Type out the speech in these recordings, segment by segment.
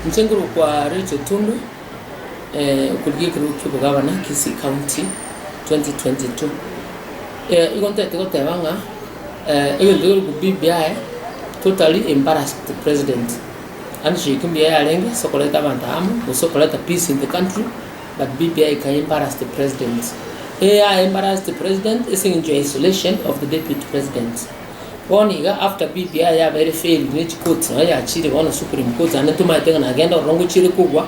Inche nkorokwa Rachel Tundwe, okorigia ekerogo ki'obogabana Kisii County 2022. Igo ntagete goteba ng'a egento kere okobubi mbiaye totally embarrassed the president. Handshake mbuya yarenge ase okoreta abanto amo gose okoreta peace in the country but BBI eka embarrass the president. Eya embarrass the president ase eng'encho ya isolation of the deputy president. Bono iga after BBI yabeire failed ne chicourts nonya yachiire bono supreme court naende tomaete ng'a nagende ororo ngochiire kogwa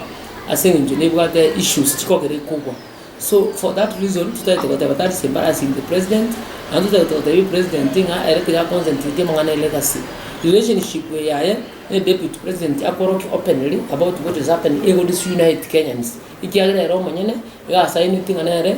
ase eng'encho nebwate issues chikogera ekogwa so for that reason totagete goteba that is embarrassing the president naende totagete gotebia president ng'a ere tiga aconcentrate amang'ana e legacy relationship eye aye ne deputy president akorokia openly about what is happening ego disunite Kenyans. Ekiagera ere omonyene iga asainetie ng'a nere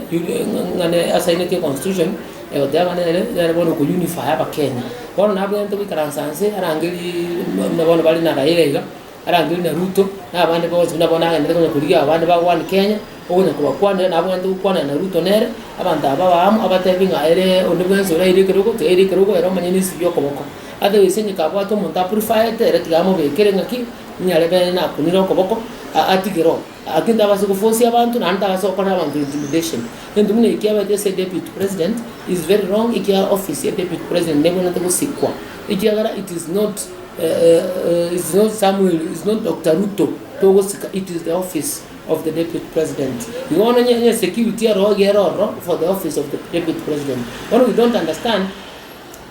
ng'a nere asainetie constitution egoteba ng'a nere nere bono oko unify abakenya. Bono nabwenerete goikaransa inse arangeriiii buna bono bare na Raila iga, arangire na Ruto, na abande bonsi buna bono agenderete konya korigia abande bagwane Kenya, okonya kobakwanera nabwenerete gokwanera na Ruto nere, abanto aba babe amo abatebie ng'a eree onde bwensi oraire ekero ogote aire ekero ogoe ere omonyene esegi okoboko. Otherwise onye kabwate omonto a purifaete ere tiga amobekere ng'a ki. Niare bene nakunire okoboko, a- atige roho. Aki ntabase gofosia abanto, naende ntabase gokora abanto intimidation. Gento buna eki kiabaete ase deputy president is very wrong, ekiagera office ya deputy president nebwenerete gosikwa, ekiagera it is not is not Samuel, is not Doctor Ruto togosika, it is the office of the deputy president. Igo bono onye onye security oroge ere ororo for the office of the deputy president. Bono we don't understand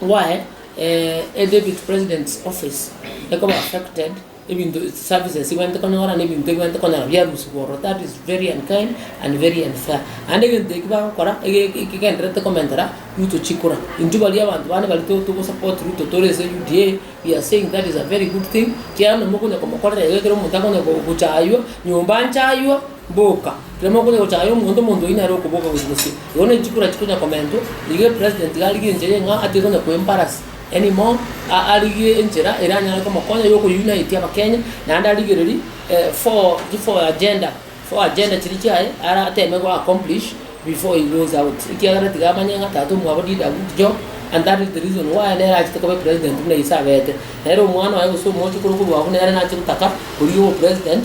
why. E Deputy President's Office ekoba affected, ebinto services ebwenerete konyora na ebinto ebwenerete konyora biarusigwa ororo, that is very unkind and very unfair. Naende egento eki bagokora ekegendererete komentera Ruto chikura. Intwe baria abanto bande baria to go support Ruto tore ase UDA, we are saying that is a very good thing, ekiagera nonya mokonya komokorera iga ekero omonto akonya gochaywa, nyomba nchaywa, Boka, riromo okonya gochaka aye omonto omonto oyio nere okoboka gochia gose. Igo ne chikura chikonya komentwa, igo epresident iga arigie enchera eye ng'a atari konya koembarasi any more, a- arigie enchera eranyare komokonya yo okounite abakenya, naende arigereri eh four chi four agenda, four agenda chiria chiaye ara ateme go accomplish before he goes out, ekiagera tiga amanye ng'a tata omwabo did a good job, and that is the reason why nere achete koba epresident buna ise abete. Nere omwana oye gose omoochokoro korwa abwo nere nache gotaka korigia obopresident.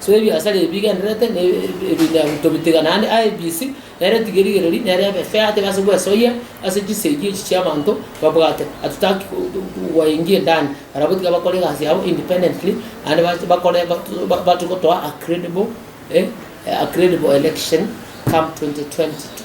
So ebiasara ebi bigendererete na ebinyagu tobitigana naende IEBC nere tiga erigererie nere ebe fair tebe ase gwesoyia ase chisegi echi chiabanto babwate hatutaki gwaingia endani barabwo tiga bakore egasi yabo independently naende bache bakore batoe gotoa a credible a credible election come 2022.